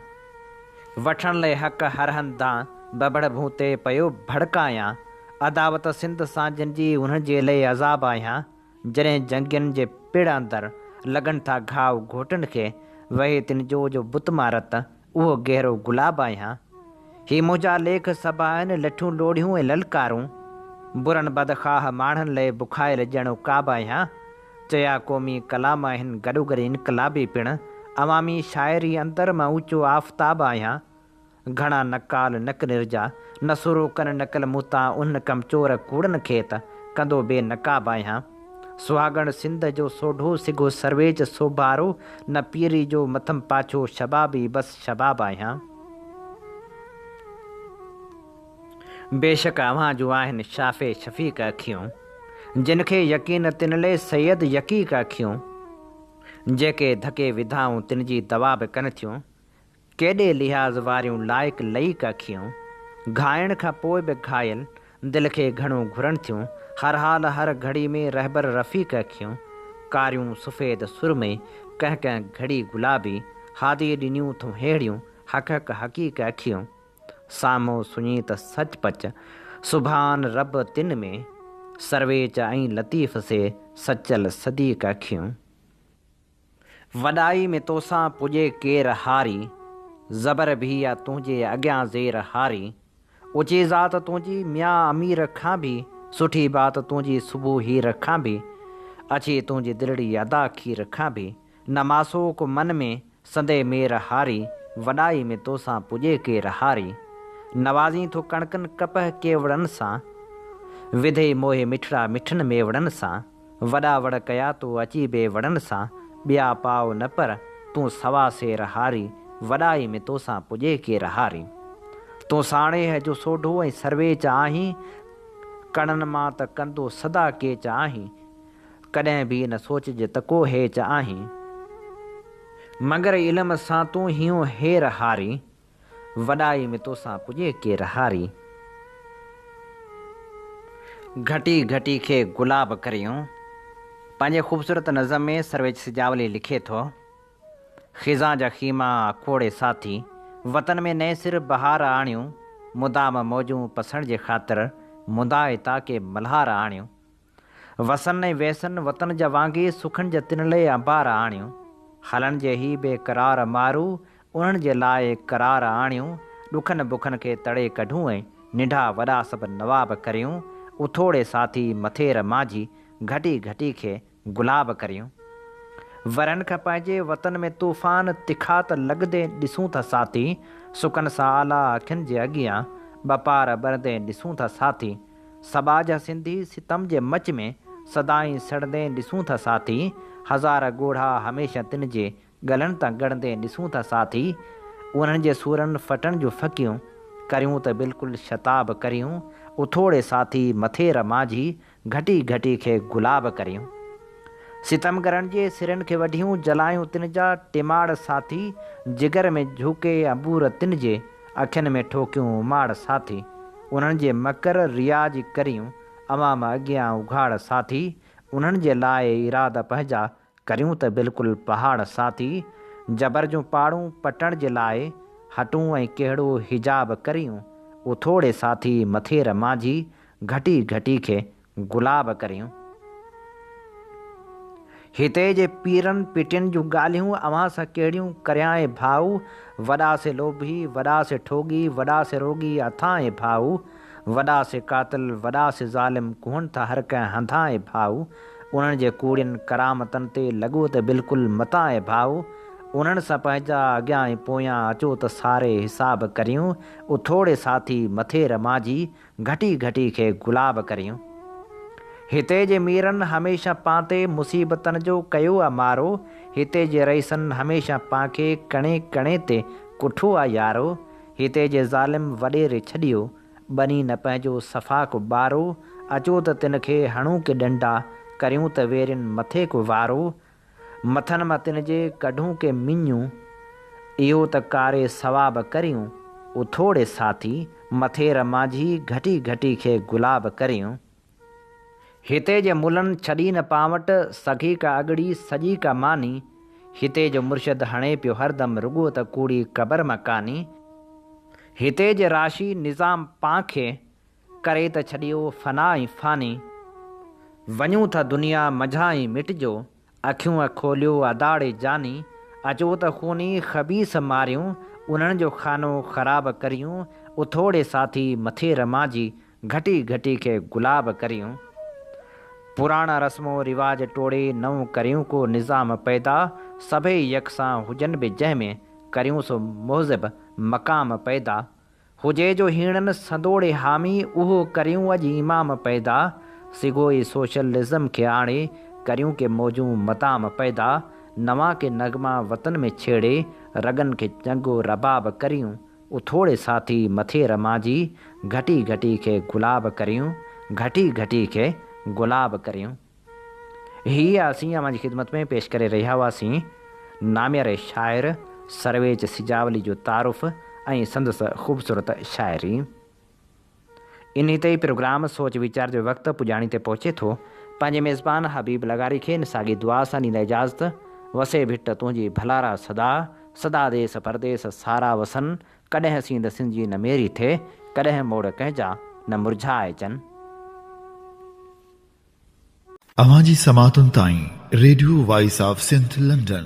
وٺڻ لئه حق هر هنڌان ببڙ ڀون تي پيو ڀڙڪايان. عداوت سنڌ سان جن جي انهن جي لئه عذاب آيان. جڏهن جنگين جي پڙ اندر لڳن ٿا گهاء گهوٽن کي وهي تن جو جو بت مان رت اهو گهرو گلاب آهيان. هي منهنجا ليک سڀ آهن لٺون لوڙهيون ۽ للڪارون. برن بدخواه ماڻهن لئه بکايل ڄڻ عقاب آهيان. چيا قومي ڪلام آهن گڏوگڏ انقلابي پڻ. عوامي شاعري اندر مان اوچو آفتاب آهيان. گهڻا نقال نڪ نرجا نسورو ڪن نقل مون تان انهن ڪمچور ڪوڙن کي ته ڪندو بي نقاب آهيان. سهاڳڻ سنڌ جو سوڍو سگهو سرويچ سوڀارو نه پيري جو مٿم پاڇو شبابي بس شباب آهيان. بيشڪ اوهان جون آهن شافع شفيق اکيون جن کي يقين تن لي سيد يقيق اکيون جيڪي ڌڪي وڌائون تن جي دوا به ڪن ٿيون. ڪيڏي لحاظ واريون لائق لئيڪ اکيون، گهائڻ کان پوء به گهايل دل کي گهڻو گهرن ٿيون، هر حال هر گهڙي ۾ رهبر رفيق اکيون، ڪاريون سفيد سرمي، ڪنهن ڪنهن گهڙي گلابي، هادي ڏنيون ٿون ههڙيون، حق حق حقيق اکيون، سامهو سڃي ته سچ پچ، سبحان رب تن ۾، سرويچ ۽ لطيف سي سچل صديق اکيون. وڏائي ۾ توسان پڄي ڪير هاري، زبر ڀي آ تنهنجي اڳيان زير هاري، اوچي ذات تنهنجي ميان امير کان ڀي، سٺي بات تنهنجي صبح هير کان ڀي، اڇي تنهنجي دلڙي ادا کير کان ڀي، نه ماسوڪ من ۾ سندي مير هاري، وڏائي ۾ توسان پڄي ڪير هاري، نوازين ٿو ڪڻڪن ڪپهه ڪيوڙن سان، وڌي موهي مٺڙا مٺن ميوڙن سان. وڏا وڙ ڪيا تو اچي بي وڙن سان ٻيا پاء نه پر تون سوا سير هاري وڏائي ۾ توسان پڄي ڪير هاري تون ساڻيهه جو سوڍو ۽ سرويچ آهين ڪڻن مان ته ڪندو سدا ڪيچ آهين ڪڏهن به نه سوچج ته ڪو هيچ آهين مگر علم سان تون هيون هير هاري. وڏائي ۾ توسان پڄي ڪي رهاري. گهٽي گهٽي کي گلاب ڪريون. پنهنجي خوبصورت نظم ۾ سرويچ سجاولي لکي ٿو، خزان جا خيما کوڙي ساٿي، وطن ۾ نئين سر بهار آڻيون، مدام موجون پسڻ جي خاطر، مندا اتاڪي ملهار آڻيون. وسن ۽ ويسن وطن جا وانگي سکن جا تنلي انبار آڻيون خلن جي هي بي قرار مارو انهن جي لاء قرار آڻيون ڏکن بکن کي تڙي ڪڍون ۽ ننڍا وڏا سڀ نواب ڪريون اٿوڙي ساٿي مٿير مانجهي گهٽي گهٽي کي گلاب ڪريون ورن کان پنهنجي وطن ۾ طوفان تکا ته لڳندي ڏسون ٿا ساٿي سڪن سان آلا اکين جي اڳيان ٻه پار ٻرندي ڏسون ٿا ساٿي سٻاجھ ھا سنڌي ستم جي مچ ۾، سدائين سڙندين ڏسون ٿا ساٿي، ھزار ڳوڙھا ھميشه تن جي، ڳلن تان ڳڙندين ڏسون ٿا ساٿي، اونھن جي سورن ڦٽڻ جون ڦڪيون، ڪريون ته بلڪل شتاب ڪريون، اٿوڙي ساٿي مٿير مانجھي، گھٽي گھٽي کي گلاب ڪريون. ستمگرن جي سرن کي وڍيون، جلايون تن جا ٽماڙ ساٿي، جگر ۾ جھوڪي انبور تن جي، اکين ۾ ٺوڪيون اماڙ ساٿي، انهن جي مڪر رياء جي ڪريون عوام اڳيان اگهاڙ ساٿي، انهن جي لاء ارادا پنهنجا ڪريون ته بلڪل پهاڙ ساٿي، جبر جون پاڙون پٽڻ جي لاء هٽون ۽ ڪهڙو حجاب ڪريون اٿوڙي ساٿي، مٿير مانجهي گهٽي گهٽي کي گلاب ڪريون، هتي جي پيرن پٽين جون ڳالهيون اوهان سان ڪهڙيون ڪريانء ڀاء، وڏا سي لوڀي، وڏا سي ٺوڳي، وڏا سي روڳي اٿانء ڀاء، وڏا سي قاتل، وڏا سي ظالم ڪوهن ٿا هر ڪنهن هنڌانء ڀاء، انهن جي ڪوڙين ڪرامتن تي لڳو ته بلڪل متانء ڀاء، انهن سان پنهنجا اڳيان ۽ پويان اچو ته ساري حساب ڪريون، اٿوڙي ساٿي مٿير مانجهي، گهٽي گهٽي کي گلاب ڪريون. هتي جي ميرن هميشه پانتي مصيبتن جو ڪيو آ مارو، هتي جي رئيسن هميشه پانکي ڪڻي ڪڻي تي ڪٺو آ يارو، هتي جي ظالم وڏيري ڇڏيو، ٻني نه پنهنجو صفا ڪو ٻارو، اچو ته تن کي هڻون ڪي ڏنڊا، ڪريون ته ويرين مٿي ڪو وارو، مٿن مان تن جي ڪڍون ڪي مڃون، اهو ته ڪاري ثواب ڪريون، اٿوڙي ساٿي، مٿير مانجهي گهٽي گهٽي کي گلاب ڪريون. هتي جي ملن ڇڏي نه پاوٽ، سگهي ڪا اڳڙي، سڄي ڪا ماني، هتي جو مرشد هڻي پيو هردم رڳو ته ڪوڙي قبر مان ڪاني، هتي جي راشي نظام پانکي، ڪري ته ڇڏيو فنا ۽ فاني، وڃون ٿا دنيا منجهان ۽ مٽجو، اکيون کوليو اداڙي جاني، اچو ته خوني خبيث ماريون، انهن جو خانو خراب ڪريون، اٿوڙي ساٿي مٿي رمان جي، گهٽي گهٽي کي گلاب ڪريون. پراڻا رسم و رواج ٽوڙي نئون ڪريون ڪو نظام پيدا، سڀئي يڪسان هجن به جنهن ۾، ڪريون سو مهذب مقام پيدا، هجي جو هيڻن سندوڙي حامي اهو ڪريون اڄ امام پيدا سگهو ئي سوشلزم کي آڻي ڪريون ڪي موجون مدام پيدا نوان ڪي نغما وطن ۾ ڇيڙي رڳن کي چنگو رباب ڪريون اٿوڙي ساٿي مٿي رمانجي گهٽي گهٽي کي گلاب ڪريون گهٽي گهٽي کي گلاب ڪريون. هي اسين اوهان جي خدمت ۾ پيش ڪري رهيا هئاسين ناميار شاعر سرويچ سجاولي جو تعارف ۽ سندس خوبصورت شاعري. انهي تي پروگرام سوچ ويچار جو وقت پڄاڻي تي پهچي ٿو. پنهنجي ميزبان حبيب لغاري کي ان ساڳي دعا سان ڏيندا اجازت، وسي ڀٽ تنهنجي ڀلارا سدا، سدا ديس پرديس سارا وسن، ڪڏهن سينڌ سنجي نه ميري ٿئي، ڪڏهن موڙ ڪنهن جا نه مرجهائجن. اوهان جي سماعتن تائين radio voice of Sindh London.